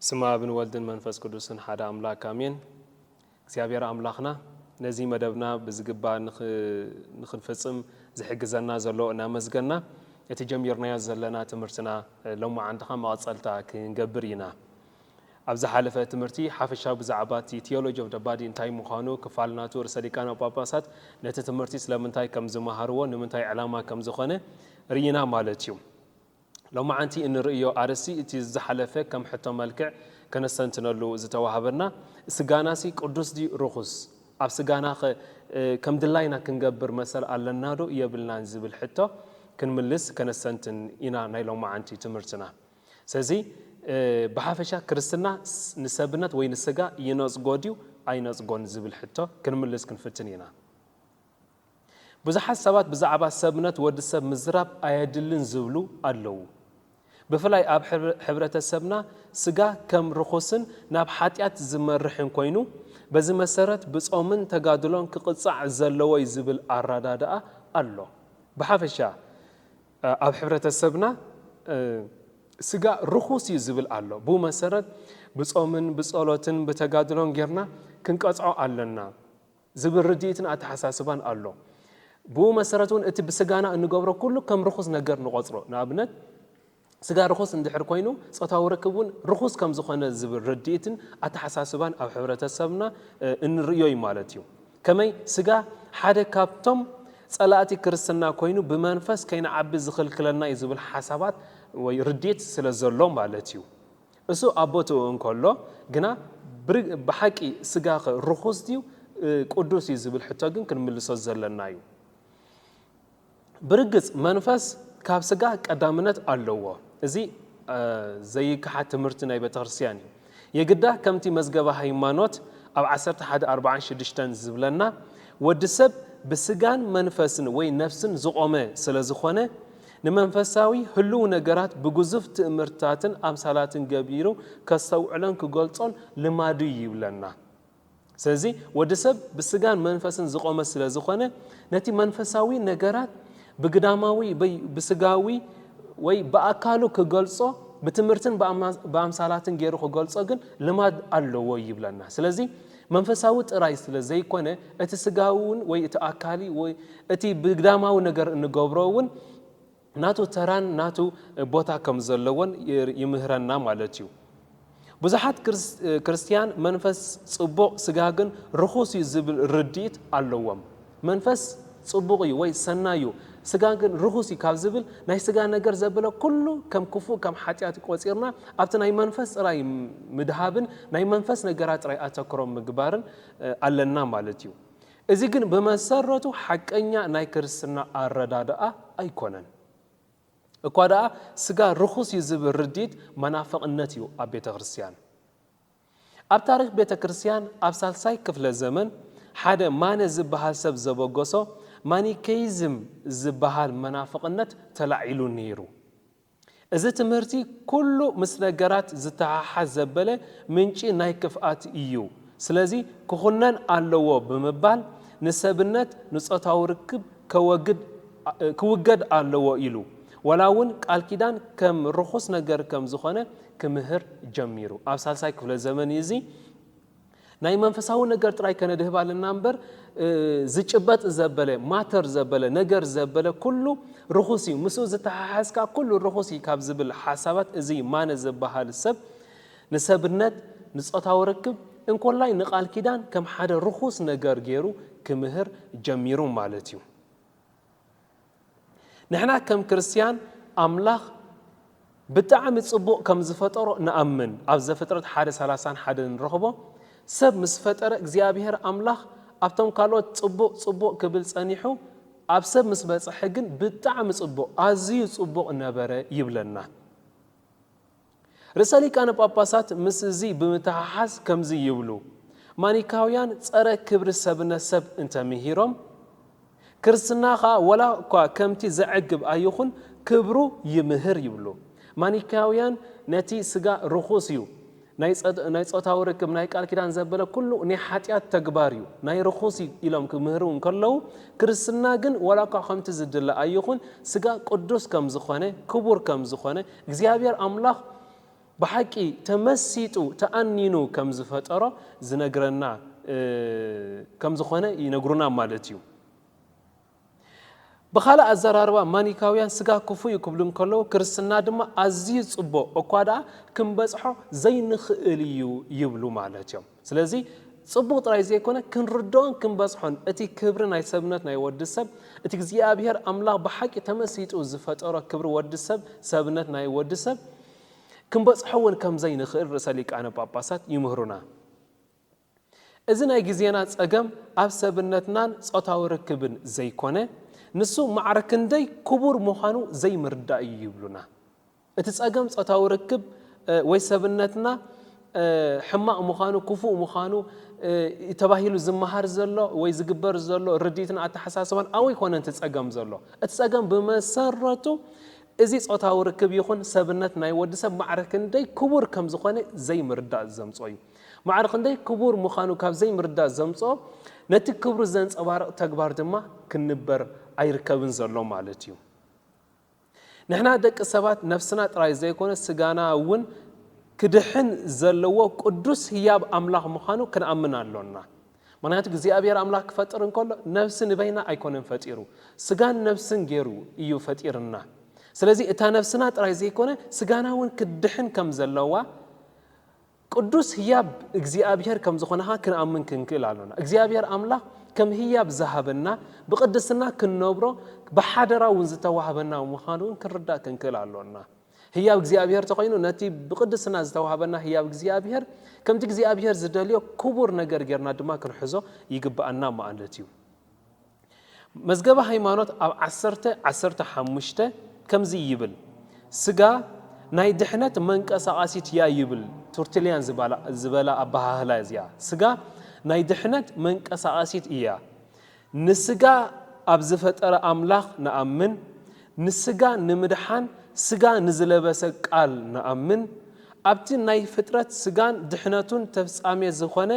ስመ ኣብን ወልድን መንፈስ ቅዱስን ሓደ ኣምላክ ኣሜን። እግዚኣብሔር ኣምላኽና ነዚ መደብና ብዝግባ ንክንፍፅም ዝሕግዘና ዘሎ እናመስገና እቲ ጀሚርናዮ ዘለና ትምህርትና ሎማዓንቲ ከዓ መቐፀልታ ክንገብር ኢና። ኣብ ዝሓለፈ ትምህርቲ ሓፈሻዊ ብዛዕባ እቲ Theology of the Body እንታይ ምዃኑ፣ ክፋል ናቱ፣ ርእሰ ሊቃነ ጳጳሳት ነቲ ትምህርቲ ስለምንታይ ከም ዝመሃርዎ፣ ንምንታይ ዕላማ ከም ዝኾነ ርኢና ማለት እዩ። ሎማዓንቲ እንርእዮ ኣርእስቲ እቲ ዝሓለፈ ከም ሕቶ መልክዕ ከነስተንትነሉ ዝተዋህበና፣ ስጋናሲ ቅዱስ ድዩ ርኹስ? ኣብ ስጋናኸ ከም ድላይና ክንገብር መሰል ኣለናዶ የብልናን ዝብል ሕቶ ክንምልስ ከነስተንትን ኢና ናይ ሎማዓንቲ ትምህርትና። ስለዚ ብሓፈሻ ክርስትና ንሰብነት ወይ ንስጋ ይነጽጎ ድዩ ኣይነጽጎን ዝብል ሕቶ ክንምልስ ክንፍትን ኢና። ብዙሓት ሰባት ብዛዕባ ሰብነት ወዲ ሰብ ምዝራብ ኣየድልን ዝብሉ ኣለዉ። ብፍላይ ኣብ ሕብረተሰብና ስጋ ከም ርኹስን ናብ ሓጢኣት ዝመርሕን ኮይኑ በዚ መሰረት ብጾምን ተጋድሎን ክቕጻዕ ዘለዎ'ዩ ዝብል ኣረዳድኣ ኣሎ። ብሓፈሻ ኣብ ሕብረተሰብና ስጋ ርኹስ እዩ ዝብል ኣሎ። ብኡ መሰረት ብጾምን ብጸሎትን ብተጋድሎን ጌርና ክንቀጽዖ ኣለና ዝብል ርድኢትን ኣተሓሳስባን ኣሎ። ብኡ መሰረት እውን እቲ ብስጋና እንገብሮ ኩሉ ከም ርኹስ ነገር ንቖጽሮ። ንኣብነት ስጋ ርኹስ እንድሕር ኮይኑ ጾታዊ ርክብ እውን ርኹስ ከም ዝኾነ ዝብል ርድኢትን ኣተሓሳስባን ኣብ ሕብረተሰብና እንርእዮ እዩ ማለት እዩ። ከመይ ስጋ ሓደ ካብቶም ጸላእቲ ክርስትና ኮይኑ ብመንፈስ ከይንዓቢ ዝኽልክለና እዩ ዝብል ሓሳባት ወይ ርድኢት ስለ ዘሎ ማለት እዩ። እሱ ኣብ ቦትኡ እንከሎ ግና ብሓቂ ስጋኸ ርኹስ ድዩ ቅዱስ እዩ ዝብል ሕቶ ግን ክንምልሶ ዘለና እዩ። ብርግጽ መንፈስ ካብ ስጋ ቀዳምነት ኣለዎ፣ እዚ ዘይከሓድ ትምህርቲ ናይ ቤተክርስትያን እዩ። የግዳ ከምቲ መዝገበ ሃይማኖት ኣብ ዓሰርተ ሓደ ኣርብዓን ሽዱሽተን ዝብለና ወዲ ሰብ ብስጋን መንፈስን ወይ ነፍስን ዝቖመ ስለዝኾነ ንመንፈሳዊ ህሉው ነገራት ብግዙፍ ትእምርትታትን ኣምሳላትን ገቢሩ ከስተውዕሎን ክገልጾን ልማዱ'ዩ ይብለና። ስለዚ ወዲ ሰብ ብስጋን መንፈስን ዝቖመ ስለ ዝኾነ ነቲ መንፈሳዊ ነገራት ብግዳማዊ ወይ ብስጋዊ ወይ ብኣካሉ ክገልጾ ብትምህርትን ብኣምሳላትን ገይሩ ክገልጾ ግን ልማድ ኣለዎ ይብለና። ስለዚ መንፈሳዊ ጥራይ ስለ ዘይኮነ እቲ ስጋዊ እውን ወይ እቲ ኣካሊ ወይ እቲ ብግዳማዊ ነገር እንገብሮ እውን ናቱ ተራን ናቱ ቦታ ከም ዘለዎን ይምህረና ማለት እዩ። ብዙሓት ክርስትያን መንፈስ ጽቡቕ ስጋ ግን ርኹስ እዩ ዝብል ርድኢት ኣለዎም። መንፈስ ጽቡቕ እዩ ወይ ሰናይ እዩ ስጋ ግን ርኹስ እዩ ካብ ዝብል ናይ ስጋ ነገር ዘበለ ኩሉ ከም ክፉእ ከም ሓጢኣት ቆጺርና ኣብቲ ናይ መንፈስ ጥራይ ምድሃብን ናይ መንፈስ ነገራት ጥራይ ኣተክሮ ምግባርን ኣለና ማለት እዩ። እዚ ግን ብመሰረቱ ሓቀኛ ናይ ክርስትና ኣረዳድኣ ኣይኮነን። እኳ ደኣ ስጋ ርኹስ እዩ ዝብል ርድኢት መናፍቕነት እዩ ኣብ ቤተ ክርስቲያን። ኣብ ታሪኽ ቤተ ክርስቲያን ኣብ ሳልሳይ ክፍለ ዘመን ሓደ ማነ ዝበሃል ሰብ ዘበገሶ ማኒከይዝም ዝበሃል መናፍቕነት ተላዒሉ ነይሩ። እዚ ትምህርቲ ኩሉ ምስ ነገራት ዝተሓሓዝ ዘበለ ምንጪ ናይ ክፍኣት ኢዩ ስለዚ ክኹነን ኣለዎ ብምባል ንሰብነት ንጾታዊ ርክብ ከወግድ ክውገድ ኣለዎ ኢሉ ዋላ ውን ቃል ኪዳን ከም ርኹስ ነገር ከም ዝኾነ ክምህር ጀሚሩ ኣብ ሳልሳይ ክፍለ ዘመን ኢዩ እዚ ናይ መንፈሳዊ ነገር ጥራይ ከነድህብ ኣለና እምበር ዝጭበጥ ዘበለ ማተር ዘበለ ነገር ዘበለ ኩሉ ርኹስ እዩ ምስ ዝተሓሓዝካ ኩሉ ርኹስ እዩ ካብ ዝብል ሓሳባት እዚ ማነ ዝበሃል ሰብ ንሰብነት ንፆታዊ ርክብ እንኮላይ ንቃል ኪዳን ከም ሓደ ርኹስ ነገር ገይሩ ክምህር ጀሚሩ ማለት እዩ። ንሕና ከም ክርስትያን ኣምላኽ ብጣዕሚ ጽቡቕ ከም ዝፈጠሮ ንኣምን ኣብ ዘፍጥረት ሓደ ሰላሳን ሓደን ንረኽቦ ሰብ ምስ ፈጠረ እግዚኣብሄር ኣምላኽ ኣብቶም ካልኦት ጽቡቕ ጽቡቕ ክብል ጸኒሑ ኣብ ሰብ ምስ በጽሐ ግን ብጣዕሚ ጽቡቕ ኣዝዩ ጽቡቕ ነበረ ይብለና። ርእሰ ሊቃነ ጳጳሳት ምስ እዚ ብምትሕሓዝ ከምዚ ይብሉ፣ ማኒካውያን ጸረ ክብሪ ሰብነት ሰብ እንተ ምሂሮም፣ ክርስትና ኸኣ ወላ እኳ ከምቲ ዘዕግብ ኣይኹን ክብሩ ይምህር ይብሉ። ማኒካውያን ነቲ ስጋ ርኹስ እዩ፣ ናይ ጾታዊ ርክብ፣ ናይ ቃል ኪዳን ዘበለ ኩሉ ናይ ሓጢኣት ተግባር እዩ፣ ናይ ርኹስ እዩ ኢሎም ክምህሩ እንከለዉ፣ ክርስትና ግን ወላ እኳ ከምቲ ዝድለ ኣይኹን ስጋ ቅዱስ ከም ዝኾነ ክቡር ከም ዝኾነ እግዚኣብሔር ኣምላኽ ብሓቂ ተመሲጡ ተኣኒኑ ከም ዝፈጠሮ ዝነግረና ከም ዝኾነ ይነግሩና ማለት እዩ። ብኻልእ ኣዘራርባ ማኒካውያን ስጋ ክፉእ እዩ ክብሉ እንከለዉ ክርስትና ድማ ኣዝዩ ጽቡቕ እኳ ደኣ ክንበጽሖ ዘይንኽእል እዩ ይብሉ ማለት እዮም። ስለዚ ጽቡቕ ጥራይ ዘይኮነ ክንርድኦን ክንበጽሖን እቲ ክብሪ ናይ ሰብነት ናይ ወዲ ሰብ እቲ እግዚኣብሄር ኣምላኽ ብሓቂ ተመሲጡ ዝፈጠሮ ክብሪ ወዲ ሰብ ሰብነት ናይ ወዲ ሰብ ክንበጽሖ እውን ከም ዘይንኽእል ርእሰ ሊቃነ ጳጳሳት ይምህሩና። እዚ ናይ ግዜና ጸገም ኣብ ሰብነትናን ጾታዊ ርክብን ዘይኮነ ንሱ ማዕረ ክንደይ ክቡር ምዃኑ ዘይምርዳእ እዩ ይብሉና። እቲ ጸገም ጾታዊ ርክብ ወይ ሰብነትና ሕማቕ ምዃኑ፣ ክፉእ ምዃኑ፣ እዩ ተባሂሉ ዝመሃር ዘሎ ወይ ዝግበር ዘሎ ርድኢትን ኣተሓሳስባን ኣብኡ ኣይኮነን እቲ ጸገም ዘሎ። እቲ ጸገም ብመሰረቱ እዚ ጾታዊ ርክብ ይኹን ሰብነት ናይ ወዲ ሰብ ማዕረ ክንደይ ክቡር ከም ዝኾነ ዘይምርዳእ ዘምጽኦ እዩ። ማዕረ ክንደይ ክቡር ምዃኑ ካብ ዘይምርዳእ ዘምጽኦ ነቲ ክብሩ ዘንጸባርቕ ተግባር ድማ ክንበር ኣይርከብን ዘሎ ማለት እዩ። ንሕና ደቂ ሰባት ነፍስና ጥራይ ዘይኮነ ስጋና እውን ክድሕን ዘለዎ ቅዱስ ህያብ ኣምላኽ ምዃኑ ክንኣምን ኣሎና። ምኽንያቱ እግዚኣብሔር ኣምላኽ ክፈጥር እንከሎ ነፍሲ ንበይና ኣይኮነን ፈጢሩ ስጋን ነፍስን ገይሩ እዩ ፈጢርና። ስለዚ እታ ነፍስና ጥራይ ዘይኮነ ስጋና እውን ክትድሕን ከም ዘለዋ ቅዱስ ህያብ እግዚኣብሔር ከም ዝኾንኻ ክንኣምን ክንክእል ኣሎና። እግዚኣብሔር ኣምላኽ ከም ህያብ ዝሃበና፣ ብቅድስና ክንነብሮ ብሓደራ እውን ዝተዋህበና ምዃኑ እውን ክንርዳእ ክንክእል ኣሎና። ህያብ እግዚኣብሔር ተኾይኑ ነቲ ብቅድስና ዝተዋህበና ህያብ እግዚኣብሔር ከምቲ እግዚኣብሔር ዝደልዮ ክቡር ነገር ጌርና ድማ ክንሕዞ ይግብኣና ማለት እዩ። መዝገበ ሃይማኖት ኣብ ዓሰርተ ዓሰርተ ሓሙሽተ ከምዚ ይብል፣ ስጋ ናይ ድሕነት መንቀሳቓሲት እያ ይብል ቱርትልያን ዝበላ ኣበሃህላ እዚኣ ስጋ ናይ ድሕነት መንቀሳቓሲት እያ ንስጋ ኣብ ዝፈጠረ ኣምላኽ ንኣምን ንስጋ ንምድሓን ስጋ ንዝለበሰ ቃል ንኣምን ኣብቲ ናይ ፍጥረት ስጋን ድሕነቱን ተፍጻሜ ዝኾነ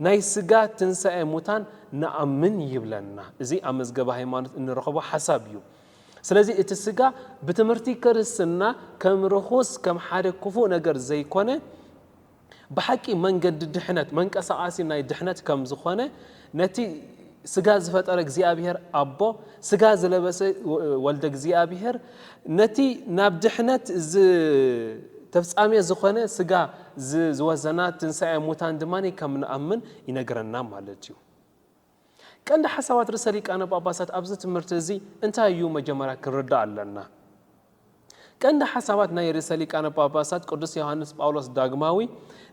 ናይ ስጋ ትንሳኤ ሙታን ንኣምን ይብለና። እዚ ኣብ መዝገበ ሃይማኖት እንረኸቦ ሓሳብ እዩ። ስለዚ እቲ ስጋ ብትምህርቲ ክርስትና ከም ርኹስ ከም ሓደ ክፉእ ነገር ዘይኮነ ብሓቂ መንገዲ ድሕነት መንቀሳቓሲ ናይ ድሕነት ከም ዝኾነ ነቲ ስጋ ዝፈጠረ እግዚኣብሔር ኣቦ ስጋ ዝለበሰ ወልደ እግዚኣብሔር ነቲ ናብ ድሕነት ተፍጻሜ ዝኾነ ስጋ ዝወዘና ትንሳኤ ሙታን ድማ ከም ንኣምን ይነግረና ማለት እዩ። ቀንዲ ሓሳባት ርእሰ ሊቃነ ጳጳሳት ኣብዚ ትምህርቲ እዚ እንታይ እዩ መጀመርያ ክንርዳእ ኣለና። ቀንዲ ሓሳባት ናይ ርእሰ ሊቃነ ጳጳሳት ቅዱስ ዮሓንስ ጳውሎስ ዳግማዊ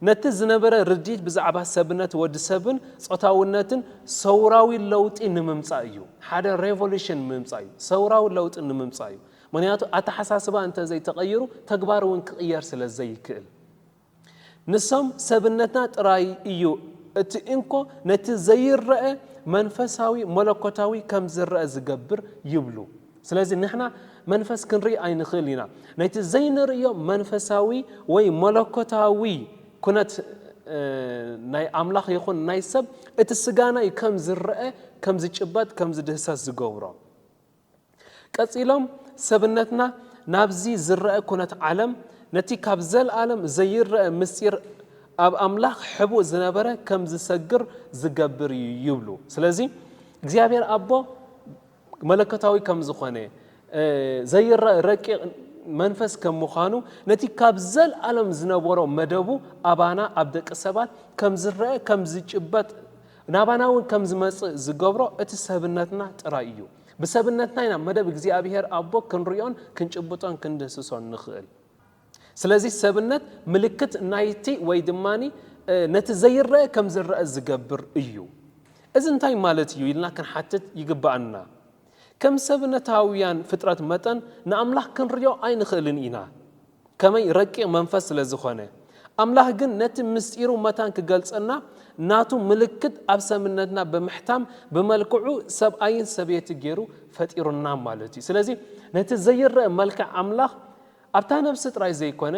ነቲ ዝነበረ ርድኢት ብዛዕባ ሰብነት ወዲ ሰብን ጾታውነትን ሰውራዊ ለውጢ ንምምጻእ እዩ። ሓደ ሬቮሉሽን ምምጻእ እዩ። ሰውራዊ ለውጢ ንምምጻእ እዩ። ምክንያቱ ኣተሓሳስባ እንተ ዘይተቐይሩ ተግባር እውን ክቕየር ስለ ዘይክእል። ንሶም ሰብነትና ጥራይ እዩ እቲ እንኮ ነቲ ዘይረኣ መንፈሳዊ መለኮታዊ ከም ዝረኣ ዝገብር ይብሉ። ስለዚ ንሕና መንፈስ ክንርኢ ኣይንኽእል ኢና ነቲ ዘይንርእዮ መንፈሳዊ ወይ መለኮታዊ ኩነት ናይ ኣምላኽ ይኹን ናይ ሰብ እቲ ስጋና እዩ ከም ዝረኣ ከም ዝጭበጥ ከም ዝድህሰስ ዝገብሮ። ቀጺሎም ሰብነትና ናብዚ ዝረኣ ኩነት ዓለም ነቲ ካብ ዘልኣለም ዘይረኣ ምስጢር ኣብ ኣምላኽ ሕቡእ ዝነበረ ከም ዝሰግር ዝገብር እዩ ይብሉ። ስለዚ እግዚኣብሔር ኣቦ መለኮታዊ ከም ዝኾነ ዘይረኣ ረቂቕ መንፈስ ከም ምዃኑ ነቲ ካብ ዘልኣለም ዝነበሮ መደቡ ኣባና ኣብ ደቂ ሰባት ከም ዝረኣ ከም ዝጭበጥ ናባና እውን ከም ዝመጽእ ዝገብሮ እቲ ሰብነትና ጥራይ እዩ። ብሰብነትና ኢና መደብ እግዚኣብሄር ኣቦ ክንርእዮን ክንጭብጦን ክንድህስሶን ንኽእል። ስለዚ ሰብነት ምልክት ናይቲ ወይ ድማ ነቲ ዘይረኣ ከም ዝረኣ ዝገብር እዩ። እዚ እንታይ ማለት እዩ ኢልና ክንሓትት ይግብኣና። ከም ሰብነታውያን ፍጥረት መጠን ንኣምላኽ ክንርእዮ ኣይንኽእልን ኢና። ከመይ ረቂቕ መንፈስ ስለ ዝኾነ። ኣምላኽ ግን ነቲ ምስጢሩ መታን ክገልጸልና ናቱ ምልክት ኣብ ሰምነትና ብምሕታም ብመልክዑ ሰብኣይን ሰብየቲ ጌሩ ፈጢሩና ማለት እዩ። ስለዚ ነቲ ዘይረእ መልክዕ ኣምላኽ ኣብታ ነብሲ ጥራይ ዘይኮነ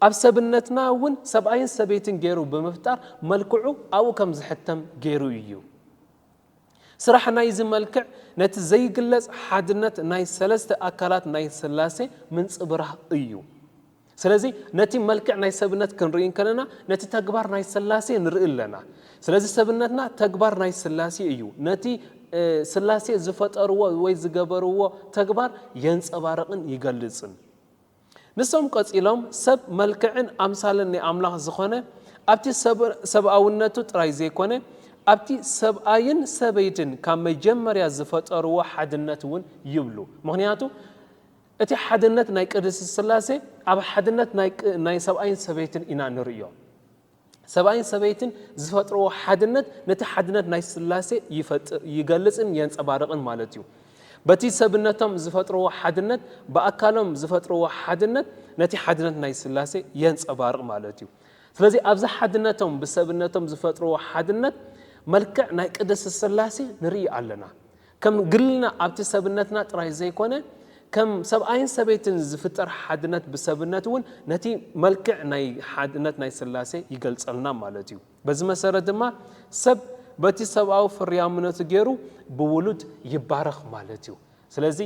ኣብ ሰብነትና እውን ሰብኣይን ሰበይትን ጌሩ ብምፍጣር መልክዑ ኣብኡ ከም ዝሕተም ጌሩ እዩ። ስራሕ ናይዚ መልክዕ ነቲ ዘይግለጽ ሓድነት ናይ ሰለስተ ኣካላት ናይ ሥላሴ ምንጽብራህ እዩ። ስለዚ ነቲ መልክዕ ናይ ሰብነት ክንርኢ እንከለና ነቲ ተግባር ናይ ሥላሴ ንርኢ ኣለና። ስለዚ ሰብነትና ተግባር ናይ ሥላሴ እዩ። ነቲ ሥላሴ ዝፈጠርዎ ወይ ዝገበርዎ ተግባር የንጸባርቕን ይገልጽን። ንሶም ቀጺሎም ሰብ መልክዕን ኣምሳልን ናይ ኣምላኽ ዝኾነ ኣብቲ ሰብኣውነቱ ጥራይ ዘይኮነ ኣብቲ ሰብኣይን ሰበይትን ካብ መጀመርያ ዝፈጠርዎ ሓድነት እውን ይብሉ ምኽንያቱ እቲ ሓድነት ናይ ቅድስት ስላሴ ኣብ ሓድነት ናይ ሰብኣይን ሰበይትን ኢና ንርእዮ። ሰብኣይን ሰበይትን ዝፈጥርዎ ሓድነት ነቲ ሓድነት ናይ ስላሴ ይፈጥር ይገልጽን የንጸባርቕን ማለት እዩ። በቲ ሰብነቶም ዝፈጥርዎ ሓድነት ብኣካሎም ዝፈጥርዎ ሓድነት ነቲ ሓድነት ናይ ስላሴ የንጸባርቕ ማለት እዩ። ስለዚ ኣብዚ ሓድነቶም ብሰብነቶም ዝፈጥርዎ ሓድነት መልክዕ ናይ ቅድስት ስላሴ ንርኢ ኣለና። ከም ግልና ኣብቲ ሰብነትና ጥራይ ዘይኮነ ከም ሰብኣይን ሰበይትን ዝፍጠር ሓድነት ብሰብነት እውን ነቲ መልክዕ ናይ ሓድነት ናይ ሥላሴ ይገልጸልና ማለት እዩ። በዚ መሠረት ድማ ሰብ በቲ ሰብኣዊ ፍርያምነቱ ገይሩ ብውሉድ ይባረኽ ማለት እዩ። ስለዚ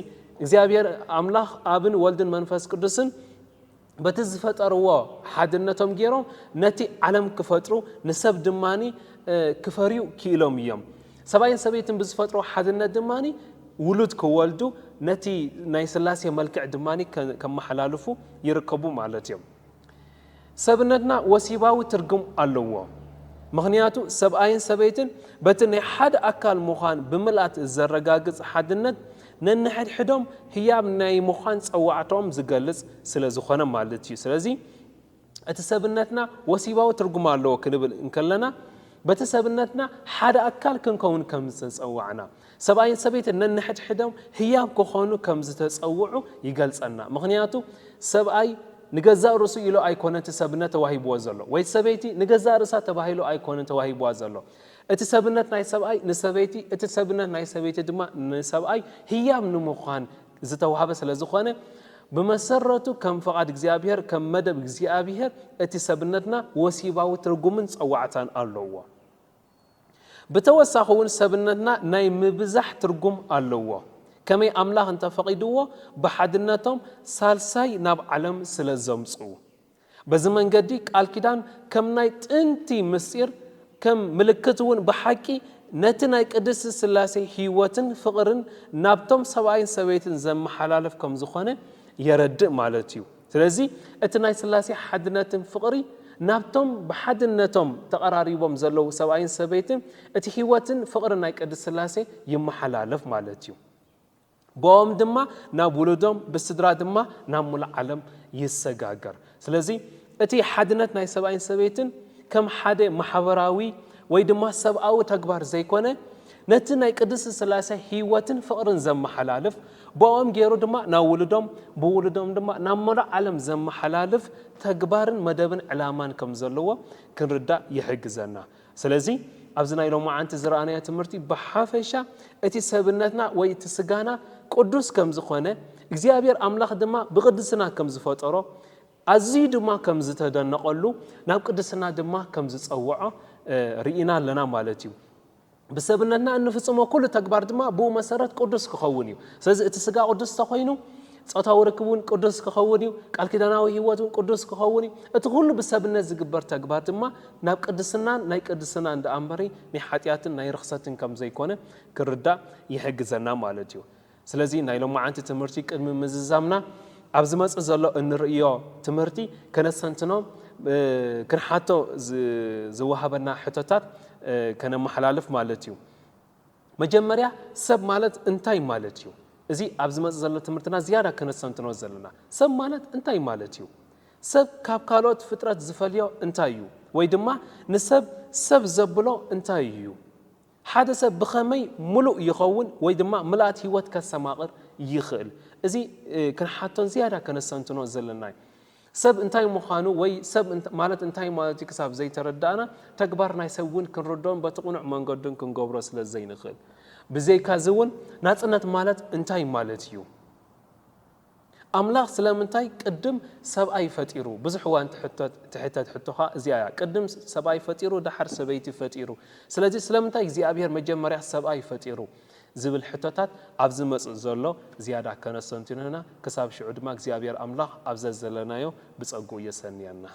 እግዚኣብሔር ኣምላኽ ኣብን ወልድን መንፈስ ቅዱስን በቲ ዝፈጠርዎ ሓድነቶም ገይሮም ነቲ ዓለም ክፈጥሩ ንሰብ ድማ ክፈርዩ ክኢሎም እዮም። ሰብኣይን ሰበይትን ብዝፈጥርዎ ሓድነት ድማ ውሉድ ክወልዱ ነቲ ናይ ስላሴ መልክዕ ድማ ከመሓላልፉ ይርከቡ ማለት እዮም። ሰብነትና ወሲባዊ ትርጉም ኣለዎ። ምኽንያቱ ሰብኣይን ሰበይትን በቲ ናይ ሓደ ኣካል ምዃን ብምልኣት ዘረጋግፅ ሓድነት ነንሕድሕዶም ህያብ ናይ ምዃን ጸዋዕታኦም ዝገልጽ ስለ ዝኾነ ማለት እዩ። ስለዚ እቲ ሰብነትና ወሲባዊ ትርጉም ኣለዎ ክንብል እንከለና በቲ ሰብነትና ሓደ ኣካል ክንከውን ከም ዝተጸዋዕና፣ ሰብኣይን ሰበይትን ነንሕድሕዶም ህያብ ክኾኑ ከም ዝተጸውዑ ይገልጸልና። ምኽንያቱ ሰብኣይ ንገዛእ ርእሱ ኢሉ ኣይኮነን እቲ ሰብነት ተዋሂብዎ ዘሎ፣ ወይ ሰበይቲ ንገዛእ ርእሳ ተባሂሉ ኣይኮነን ተዋሂብዋ ዘሎ። እቲ ሰብነት ናይ ሰብኣይ ንሰበይቲ፣ እቲ ሰብነት ናይ ሰበይቲ ድማ ንሰብኣይ ህያብ ንምዃን ዝተዋህበ ስለዝኾነ፣ ብመሰረቱ ከም ፍቓድ እግዚኣብሔር፣ ከም መደብ እግዚኣብሔር እቲ ሰብነትና ወሲባዊ ትርጉምን ጸዋዕታን ኣለዎ። ብተወሳኺ እውን ሰብነትና ናይ ምብዛሕ ትርጉም ኣለዎ፣ ከመይ ኣምላኽ እንተፈቒድዎ ብሓድነቶም ሳልሳይ ናብ ዓለም ስለዘምጽኡ። በዚ መንገዲ ቃል ኪዳን ከም ናይ ጥንቲ ምስጢር ከም ምልክት እውን ብሓቂ ነቲ ናይ ቅድስት ሥላሴ ሕይወትን ፍቕርን ናብቶም ሰብኣይን ሰበይትን ዘመሓላልፍ ከም ዝኾነ የረድእ ማለት እዩ። ስለዚህ እቲ ናይ ሥላሴ ሓድነትን ፍቕሪ ናብቶም ብሓድነቶም ተቐራሪቦም ዘለዉ ሰብኣይን ሰበይትን እቲ ሕይወትን ፍቕርን ናይ ቅድስት ሥላሴ ይመሓላለፍ ማለት እዩ። ብኦም ድማ ናብ ውሉዶም ብስድራ ድማ ናብ ሙሉእ ዓለም ይሰጋገር። ስለዚ እቲ ሓድነት ናይ ሰብኣይን ሰበይትን ከም ሓደ ማሕበራዊ ወይ ድማ ሰብኣዊ ተግባር ዘይኮነ ነቲ ናይ ቅድስት ስላሴ ሕይወትን ፍቕርን ዘመሓላልፍ ብኦም ገይሩ ድማ ናብ ውሉዶም ብውሉዶም ድማ ናብ ሙሉእ ዓለም ዘመሓላልፍ ተግባርን መደብን ዕላማን ከም ዘለዎ ክንርዳእ ይሕግዘና። ስለዚ ኣብዚ ናይ ሎማዓንቲ ዝረኣናዮ ትምህርቲ ብሓፈሻ እቲ ሰብነትና ወይ እቲ ስጋና ቅዱስ ከም ዝኾነ እግዚኣብሔር ኣምላኽ ድማ ብቅድስና ከም ዝፈጠሮ ኣዝዩ ድማ ከም ዝተደነቐሉ ናብ ቅድስና ድማ ከም ዝጸውዖ ርኢና ኣለና ማለት እዩ። ብሰብነትና እንፍጽሞ ኩሉ ተግባር ድማ ብኡ መሰረት ቅዱስ ክኸውን እዩ። ስለዚ እቲ ስጋ ቅዱስ ተኾይኑ ጾታዊ ርክብ እውን ቅዱስ ክኸውን እዩ፣ ቃል ኪዳናዊ ህይወት እውን ቅዱስ ክኸውን እዩ፣ እቲ ዅሉ ብሰብነት ዚግበር ተግባር ድማ ናብ ቅድስናን ናይ ቅድስናን ደኣ እምበሪ ናይ ሓጢኣትን ናይ ርኽሰትን ከም ዘይኰነ ክንርዳእ ይሕግዘና ማለት እዩ። ስለዚ ናይ ሎማዓንቲ ትምህርቲ ቅድሚ ምዝዛምና ኣብ ዝመጽእ ዘሎ እንርእዮ ትምህርቲ ከነስተንትኖ ክንሓቶ ዝወሃበና ሕቶታት ከነመሓላልፍ ማለት እዩ። መጀመርያ ሰብ ማለት እንታይ ማለት እዩ? እዚ ኣብ ዝመጽእ ዘሎ ትምህርትና ዝያዳ ከነስተንትኖ ዘለና። ሰብ ማለት እንታይ ማለት እዩ? ሰብ ካብ ካልኦት ፍጥረት ዝፈልዮ እንታይ እዩ? ወይ ድማ ንሰብ ሰብ ዘብሎ እንታይ እዩ? ሓደ ሰብ ብኸመይ ምሉእ ይኸውን ወይ ድማ ምልኣት ህይወት ከስተማቕር ይኽእል? እዚ ክንሓቶን ዝያዳ ከነስተንትኖ ዘለና'ዩ። ሰብ እንታይ ምዃኑ ወይ ሰብ ማለት እንታይ ማለት እዩ ክሳብ ዘይተረዳእና፣ ተግባር ናይ ሰብ እውን ክንርድኦን በቲ ቅኑዕ መንገዱን ክንገብሮ ስለ ዘይንኽእል። ብዘይካዚ እውን ናጽነት ማለት እንታይ ማለት እዩ? ኣምላኽ ስለምንታይ ቅድም ሰብኣይ ፈጢሩ? ብዙሕ እዋን ትሕተት ሕቶ ከኣ እዚኣ እያ፣ ቅድም ሰብኣይ ፈጢሩ ደሓር ሰበይቲ ፈጢሩ፣ ስለዚ ስለምንታይ እግዚኣብሄር መጀመርያ ሰብኣይ ፈጢሩ? ዝብል ሕቶታት ኣብ ዝመጽእ ዘሎ ዝያዳ ከነስተንትኖ ኢና። ክሳብ ሽዑ ድማ እግዚኣብሔር ኣምላኽ ኣብ ዘዘለናዮ ብጸግኡ የሰንየና።